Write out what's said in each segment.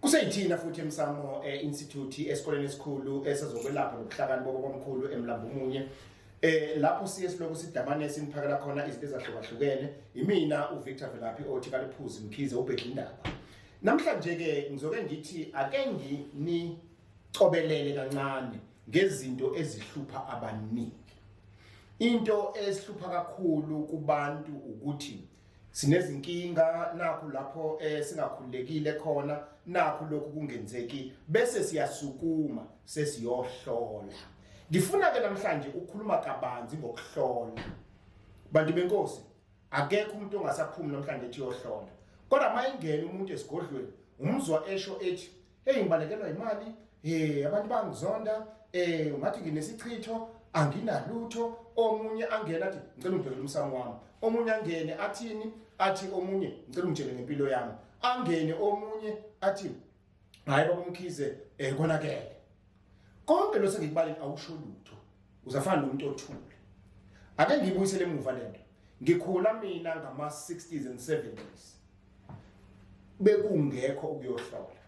Kuseyithina futhi emsamo eh, institute esikoleni esikhulu esezokwelapha nobuhlakani bobo komkhulu emlambumunye eh lapho siye siloku sidamane siniphakela khona izinto ezahlukahlukene imina uVictor Velaphi othi kaliphuzi mkhize ubhedla indaba namhlanje ke ngizoke ngithi ake nginicobelele kancane ngezinto ezihlupha abaningi into esihlupha kakhulu kubantu ukuthi sinezinkinga nakho lapho eh, singakhululekile khona nakho lokhu kungenzeki bese siyasukuma sesiyohlola ngifuna ke namhlanje ukukhuluma kabanzi ngokuhlola bantu benkosi akekho umuntu ongasaphumi namhlanje ethi yohlola kodwa mayingena umuntu esigodlweni umzwa esho ethi heyi ngibalekelwa yimali um abantu bangizonda um ungathi nginesichitho anginalutho omunye angene athi ngicela ungibhekele umsamo wami omunye angene athini athi omunye ngicela ungitshele ngempilo yami angene omunye athi hhayi babumkhize um konakele konke lo sengikubaleni awusho lutho uzafana nomuntu othule ake ngiyibuyisele emuva lento ngikhula mina ngama 60s and 70s bekungekho ukuyohlola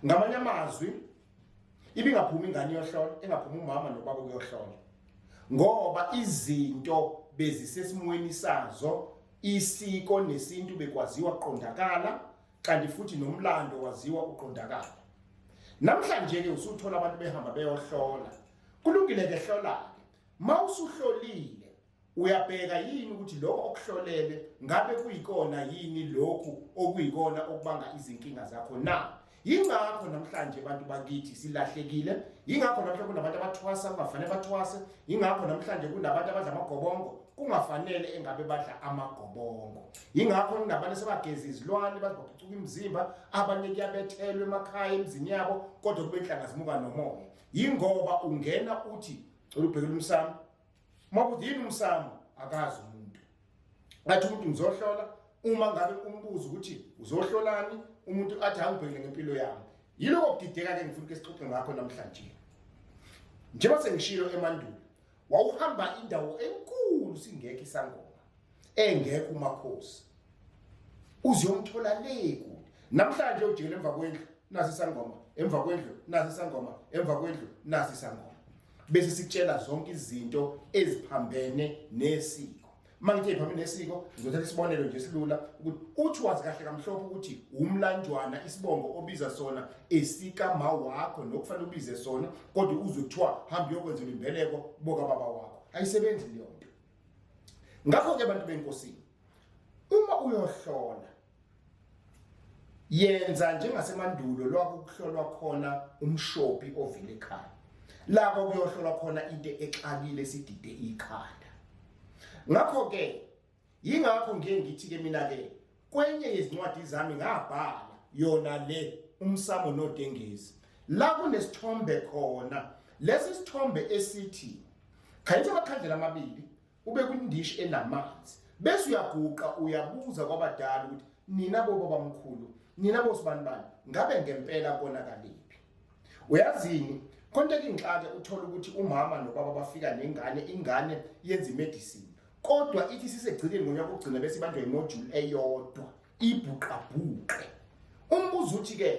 ngamanye amazwi ibingaphumi ingane yohlola engaphumi umama nobaba ukuyohlola ngoba izinto bezisesimweni sazo isiko nesintu bekwaziwa qondakala kanti futhi nomlando waziwa uqondakala namhlanje ke usuthola abantu behamba beyohlola kulungile ke hlola ke mawusuhlolile uyabheka yini ukuthi lokho okuhlolele ngabe kuyikona yini lokhu okuyikona okubanga izinkinga zakho na yingakho namhlanje abantu bakithi silahlekile yingakho namhlanje kunabantu abathwasa kungafanele bathwase yingakho namhlanje kunabantu abadla amagobongo kungafanele engabe badla amagobongo yingakho kunabanye sebageza izilwane bazibaphucuka imizimba abanye kuyabethelwa emakhaya emzini yabo kodwa kube nhlanga zimuka nomoya yingoba ungena uthi cela ubhekela umsamo uma kuthi yini umsamo akazi umuntu ngathi umuntu ngizohlola uma ngabe umbuzo ukuthi uzohlolani umuntu athi angibhekele ngempilo yami yiloko kudideka ke ngifuna ukesixoxe ngakho namhlanje njengoba sengishilo emandulo wawuhamba indawo enkulu singekho isangoma engekho umakhosi uziyomthola le kude namhlanje ujele emva kwendlu nasi isangoma emva kwendlu nasi isangoma emva kwendlu nasi isangoma bese sikutshela zonke izinto eziphambene nesiko mangithe phambi nesiko ngizothatha isibonelo nje silula ukuthi uthi wazi kahle kamhlophe ukuthi umlanjwana isibongo obiza sona esika ma wakho nokufanele ubize sona kodwa uze kuthiwa hamba uyokwenza imbeleko boka baba wakho ayisebenzi leyo nto ngakho ke abantu benkosini uma uyohlola yenza njengasemandulo lwakuhlolwa khona umshopi ovile ekhaya lapho kuyohlolwa khona into exakile sidide ikhanda ngakho ke yingakho ngiye ngithi ke mina ke kwenye yezincwadi zami ngabhala yona le umsamo nodengezi la kunesithombe khona lesi sithombe esithi khayithe amakhandlela amabili ubeka umndishi enamanzi bese uyaguqa uyabuza kwabadala ukuthi nina boba bamkhulu nina bosibanibani ngabe ngempela konakaliphi uyazini konke kingixake uthola ukuthi umama nobaba bafika nengane ingane yenza imedicine kodwa ithi sisegcikeni ngonyaka ukugcina bese ibanjwa imodule eyodwa ibhuqabhuqe umbuzo uthi ke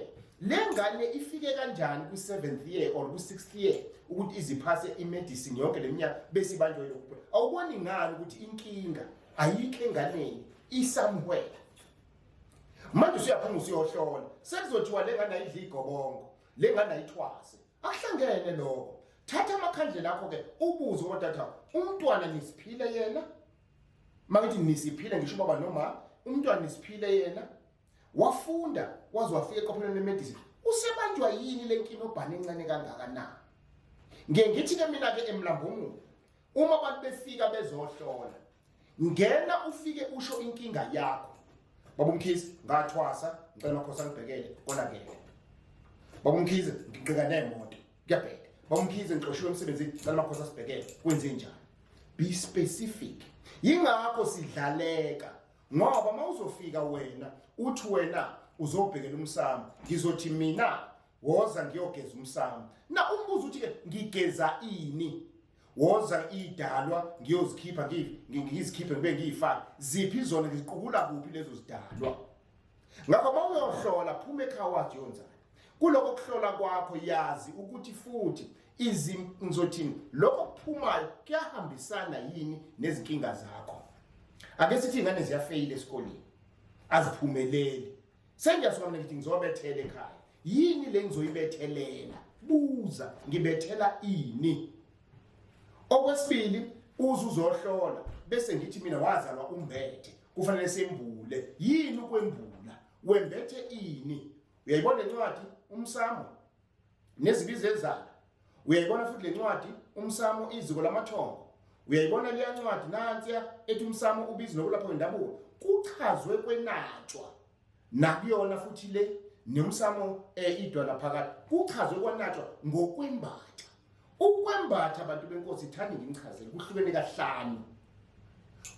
le ngane ifike kanjani kwi-seventh year or kwi-sixth year ukuthi iziphase imedicine yonke le minyaka bese ibanjwe yokuphe awuboni ngani ukuthi inkinga ayikho enganeni isamhwela manje usuyaphuma usuyohlola sekuzothiwa le ngane ayidli igobongo le ngane ayithwase akuhlangene lokho thatha amakhandlela akho-ke ubuze kodata umntwana nisiphile yena makithi nisiphile ngisho ubaba noma umntwana nisiphile yena wafunda waze wafika eqophelweni lemedicine usebanjwa yini le nkinga obhane encane kangaka na ngiye ngithi ke mina-ke emlambungulu uma abantu befika bezohlola ngena ufike usho inkinga yakho baba umkhize ngathwasa ngicela makhosi angibhekele konakele baba umkhize ngiqika nemoto kuyabheda bamkhize ngixoshiwe emsebenzini cela amakhosi asibhekele kwenze njani be specific yingakho sidlaleka ngoba uma uzofika wena uthi wena uzobhekela umsamo ngizothi mina woza ngiyogeza umsamo na umbuzo uthi-ke ngigeza ini woza idalwa ngiyozikhipha ngizikhiphe ngibe ngiyifake ziphi izona ngiziqukula kuphi lezo zidalwa ngakho uma uyohlola phuma ekhaya wathi yonzani kuloko kuhlola kwakho yazi ukuthi futhi izim ngizothini lokho kuphumayo kuyahambisana yini nezinkinga zakho ake sithi ingane ziyafeyila esikoleni aziphumeleli sengiyasuka mina ngithi ngizobethela ekhaya yini le ngizoyibethelela buza ngibethela ini okwesibili uze uzohlola bese ngithi mina wazalwa umbethe kufanele sembule yini ukwembula wembethe ini uyayibona incwadi umsamo nezibizo ezayo uyayibona futhi le ncwadi umsamo iziko lamathongo uyayibona leya ncwadi nansiya ethi umsamo ubizi nokulapha wendabuko kuchazwe kwenatshwa nakuyona futhi le nomsamo um idwala phakathi kuchazwe kwanatshwa ngokwembaxa ukwembatha abantu benkosi thani nginichazele kuhlukene kahlanu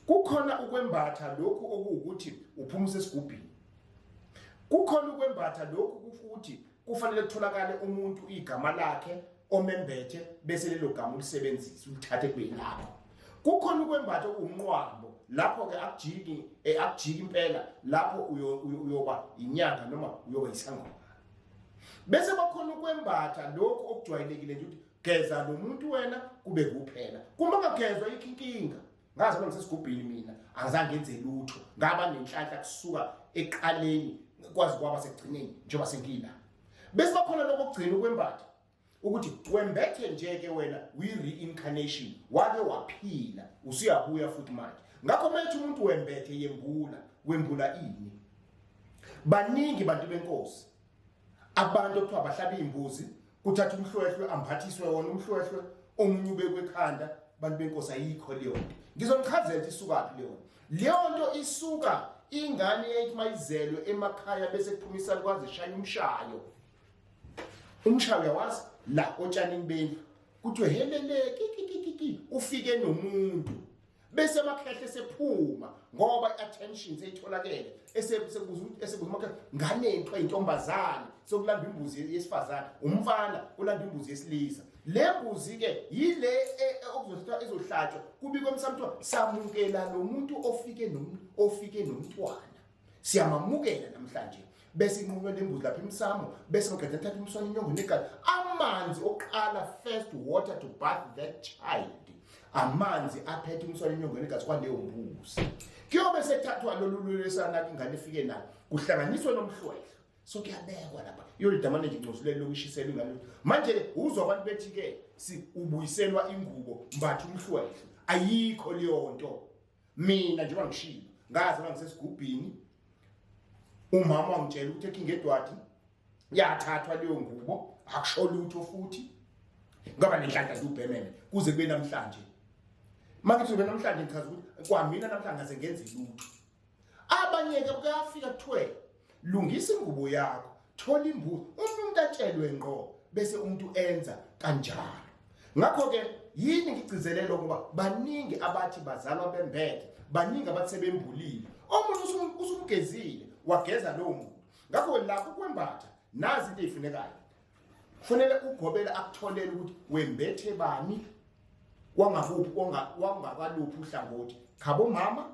kukhona ukwembatha lokhu okuwukuthi uphumisa esigubhini kukhona ukwembatha lokhu kufuthi kufanele kutholakale umuntu igama lakhe omembethe bese lelo gama ulisebenzise ulithathe kube yilapho kukhona ukwembatha umnqwambo lapho-ke akujiki eh, akujiki impela lapho uyoba inyanga noma uyoba isangoma bese bakhona ukwembatha lokhu okujwayelekile nje ukuthi geza lo muntu wena kube kuphela kuma kagezwa ikho inkinga ngaze uma ngisesigubhini mina angizange ngenze lutho ngaba nenhlanhla kusuka eqaleni kwazi kwaba sekugcineni njengoba sengila bese bakhona lokho kugcina ukwembatha ukuthi twembethe nje ke wena we reincarnation wake waphila usuyabuya futhi manje ngakho methi umuntu wembethe yembula wembula ini baningi bantu benkosi abantu okuthiwa bahlaba imbuzi kuthatha umhlwehlwe amphathiswe wona umhlwehlwe omunye ubekwe ekhanda bantu benkosi ayikho leyo nto ngizonichazela ukuthi isukaphi leyo nto leyo nto isuka ingane yayithi mayizelwe emakhaya bese kuphuma isalukazi ishaya umshayo umshaya uyawazi la otshanini bendlu kuthiwe helele kikikikiki ufike nomuntu bese amakhehle sephuma ngoba i-attention seyitholakele esebuza umakhehle ngane kuthiwa intombazane sokulanda imbuzi yesifazane umfana ulanda imbuzi yesilisa le mbuzi-ke yile e, e, okuzothiwa izohlatshwa kubikwa emsamo kuthiwa samukela lo muntu ofike nomntwana siyamamukela namhlanje bese inqunywa lembuzi lapha emsamo bese maqeda athatha umswane inyongo negazi amanzi okuqala first water to bath that child amanzi aphethe umswane inyongo negazi kwaleyo mbuzi kuyobe sethathwa lolu lwelesana ingane ifike na kuhlanganiswe nomhlwehlo so kuyabekwa lapha iyolidamane nje ncosulelo lokushisela ingane manje uzwa abantu bethi-ke si ubuyiselwa ingubo mbatha umhlwehlo ayikho leyo nto mina njengoba ngishilo ngazalwa ngisesigubhini umama wangitshela ukuthi ekhinga edwadi yathathwa leyo ngubo akusho lutho futhi ngaba nenhlanhla zubhemene kuze kube namhlanje makithi kube namhlanje ngichaza ukuthi kwamina namhlanje ngase ngenze lutho abanye ke kuyafika kuthiwe lungisa ingubo yakho thola imbuzi uma umuntu atshelwe ngqo bese umuntu enza kanjalo ngakho ke yini ngigcizelele ukuba baningi abathi bazalwa bembethe baningi abathi sebembulile omunye usumgezile wageza lowo muntu ngakho lapho kwembatha nazi into eyifunekayo kufanele ugobele akutholele ukuthi wembethe bani wangakuphi wangakaluphi uhlangothi khabo mama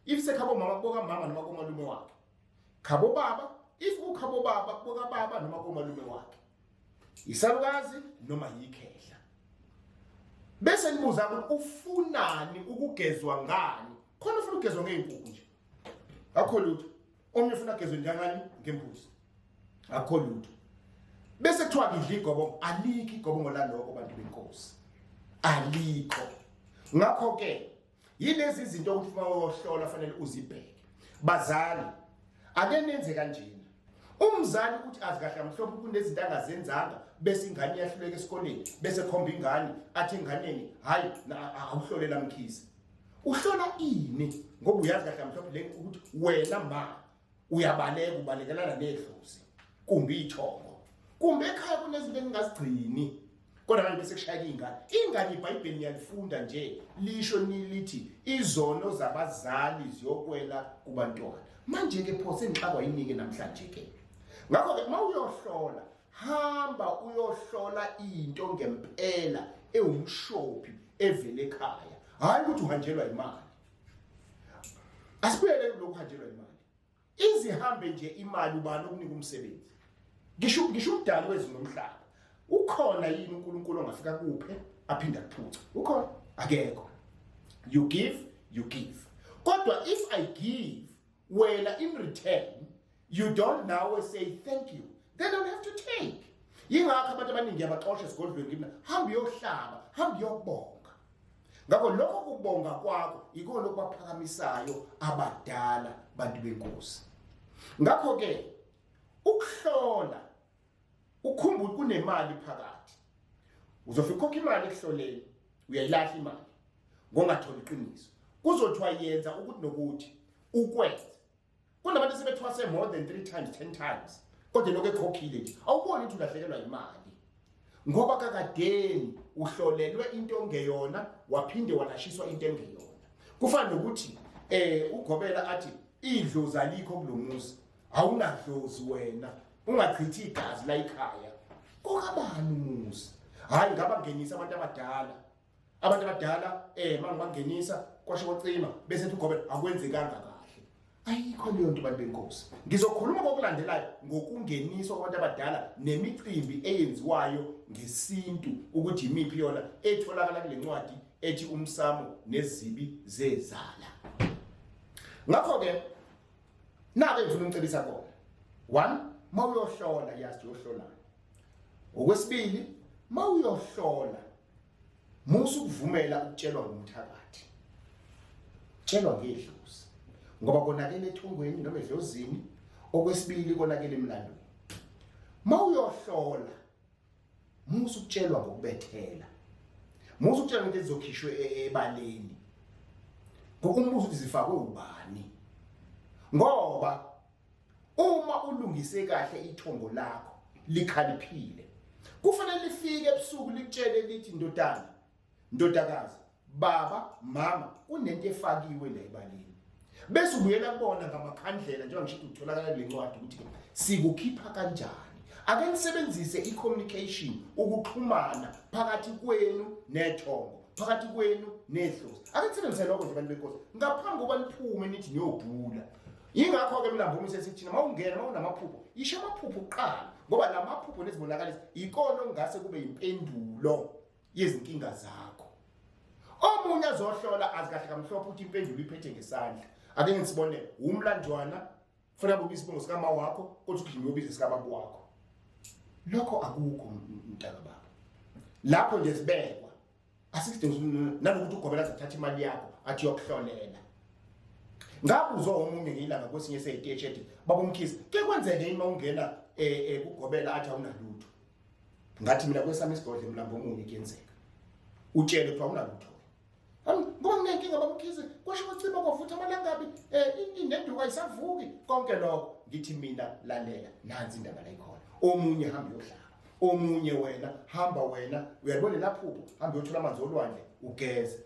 if sekhabo mama kuboka mama noma komalume wakhe khabo baba if ukhabo baba kuboka baba noma komalume wakhe isalukazi noma yikhehla bese nibuza ukuthi ufunani ukugezwa ngani khona ufuna ukugezwa ngey'nkukhu nje akho lutho omunye ufuna agezwe njangani ngembuzi akho lutho bese kuthiwa ngidla igobongo alikho igobongo laloko bantu benkosi alikho ngakho-ke yilezi izinto ukuthi uma uyohlola fanele uzibheke bazali ake nenze kanjena umzali ukuthi azi kahle amhlophe kunezinto angazenzanga bese ingane iyahluleka esikoleni bese khomba ingane athi enganeni hayi awuhlolela mkhize uhlola ini ngoba uyazi kahle amhlophe le ukuthi wena ma uyabaleka ubalekelana nedlozi kumbe ithongo kumbe ekhaya kunezinto engingazigcini kodwa manje bese kushayela ingane ingane ibhayibheli ngiyalifunda nje lisho nilithi izono zabazali ziyokwela kubantwana manje ke pho sengixakwa yinike namhlanje ke ngakho ke uma uyohlola hamba uyohlola into ngempela ewumshophi evele ekhaya hhayi ukuthi uhanjelwa imali asibuyele kulokhu hanjelwa imali izihambe nje imali ubani okunika umsebenzi ngisho ngisho umdali wezwe nomhlaba ukhona yini uNkulunkulu ongafika kuphe aphinda kuphuca ukhona akekho you give you give kodwa if i give wena in return you don't now say thank you they don't have to take yingakho abantu abaningi yabaxosha esigodlweni kimi hamba uyohlaba hamba uyobonga ngakho lokho kubonga kwakho yikona okubaphakamisayo abadala bantu benkosi ngakho-ke ukuhlola ukhumbule kunemali phakathi uzofika ukhokha imali ekuhloleni uyayilahla imali ngongatholi iqiniso kuzothiwa yenza ukuthi nokuthi ukwenze kunabantu sebethwase more than 3 times 10 times kodwa lokho ekhokhile nje awuboni ukuthi ulahlekelwa imali ngoba kakadeni uhlolelwe into ongeyona waphinde walashiswa into engeyona kufana nokuthi eh ugobela athi idlozi alikho kulomuzi awunadlozi wena ungachithi igazi la ikhaya kokabani umuzi hayi ngaba ngenisa abantu abadala abantu abadala eh mangibangenisa kwasho kwacima bese ethi ugobe akwenzekanga kahle ayikho leyo nto bantu benkosi ngizokhuluma kokulandelayo ngokungeniswa kwabantu abadala nemicimbi eyenziwayo ngesintu ukuthi yimiphi yona etholakala kule ncwadi ethi umsamo nezibi zezala ngakho-ke Nake ngifuna unicebisa kona. One, mawuyohlola yazi uyohlola. Okwesibili, mawuyohlola musu kuvumela ukutshelwa ngumthakathi. Tshelwa ngedlozi. Ngoba konakele ethongweni noma edlozini, okwesibili konakele emlandweni. Mawuyohlola Musa ukutshelwa ngokubethela. Musa ukutshelwa into ezizokhishwe e, e, ebaleni. Ngokumbuza ukuthi zifakwe ubani. Ngoba uma ulungise kahle ithongo lakho likhaliphile. Kufanele lifike ebusuku likutshele lithi ndodana ndodakazi baba mama kunento efakiwe la ebalini bese ubuyela kubona ngamakhandlela njengoba ngisho utholakala le ncwadi ukuthi sikukhipha kanjani ake nisebenzise i-communication ukuxhumana phakathi kwenu nethongo phakathi kwenu nedlozi ake nisebenzise lokho nje bantu benkosi ngaphambi kokuba niphume nithi niyobhula yingakho-ke mina mvume sesithina uma ungena uma unamaphupho yisho amaphupho kuqala ngoba la maphupho nezibonakalisa yikona okungase kube yimpendulo yezinkinga zakho omunye azohlola azi kahle kamhlophe ukuthi impendulo iphethe ngesandla ake ngisibone wumlandwana fanele ubize isibongo sikama wakho kodwa ugijima ubize sikababa wakho lokho akukho mntaka baba lapho nje sibekwa asikudingi nanokuthi ugobela zathatha imali yakho athi yokuhlolela ngabuzwa omunye ngilanga kwesinye seyiteshi ethi babomkhisi ke kwenzeke uma ungena eh, eh, kugobela athi awunalutho ngathi mina kwesami isigodle mlambo omunye kuyenzeka utshele kuthiwa unalutho ngoba nginenkinga bamkhize kwasho kwaciba kwavutha amalangabi um eh, inenduka isavuki konke lokho ngithi mina lalela nansi indaba layikhona omunye hambe yohlala omunye wena hamba wena uyalibona laphupho hamba uyothola amanzi olwandle ugeze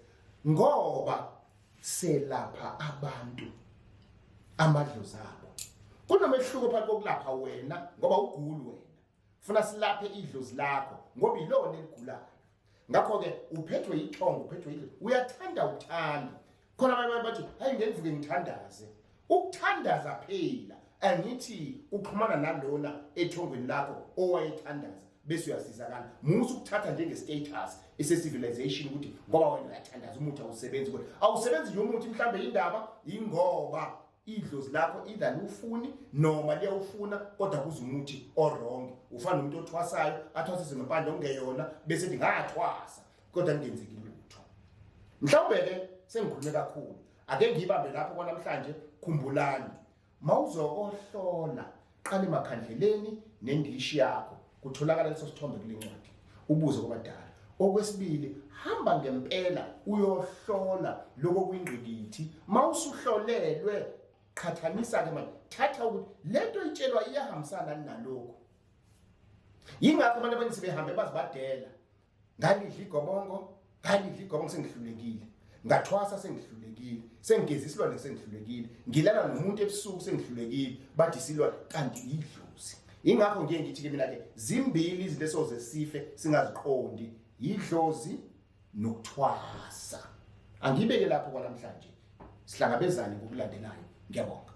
ngoba selapha abantu amadlozi abo kunomehluko phakathi kokulapha wena ngoba ugulu wena funa silaphe idlozi lakho ngoba yilona eligulayo ngakho ke uphethwe yithongo uphethwe yidlozi uyathanda uthanda khona abanye bathi hayi ngenvuke ngithandaze ukuthandaza phela angithi uxhumana nalona ethongweni lakho owayethandaza bese uyasizakala musa ukuthatha njengestatus esecivilization ukuthi ngoba wena uyathandaza umuthi awusebenzi kodwa awusebenzi nje umuthi mhlawumbe yindaba yingoba idlozi lakho either liwufuni noma liyawufuna kodwa kuze umuthi orong ufana nomuntu othwasayo athwasise ngempande okungeyona bese ethi ngathwasa kodwa kungenzeki lutho mhlawumbe-ke sengikhulume kakhulu ake ngiyibambe lapho kwanamhlanje khumbulani mawuzokohlola Qala emakhandleleni nendishi yakho kutholakala leso sithombe kulencwadi. Ubuze kwabadala. Okwesibili, hamba ngempela uyohlola lokho kwingqikithi. Mawusuhlolelwe qhathanisa ke manje thatha ukuthi lento itshelwa iyahambisana nalokho. Yingakho abantu abaningi sebehambe bazibadela ngalidla igobongo ngalidla igobongo sengihlulekile ngathwasa sengihlulekile sengigeza isilwane sengihlulekile ngilala nomuntu ebusuku sengihlulekile bathi isilwane kanti yidlozi ingakho ngiye ngithi ke mina ke zimbili izinto esoze sife singaziqondi yidlozi nokuthwasa angibeke lapho kwanamhlanje sihlangabezane ngokulandelayo ngiyabonga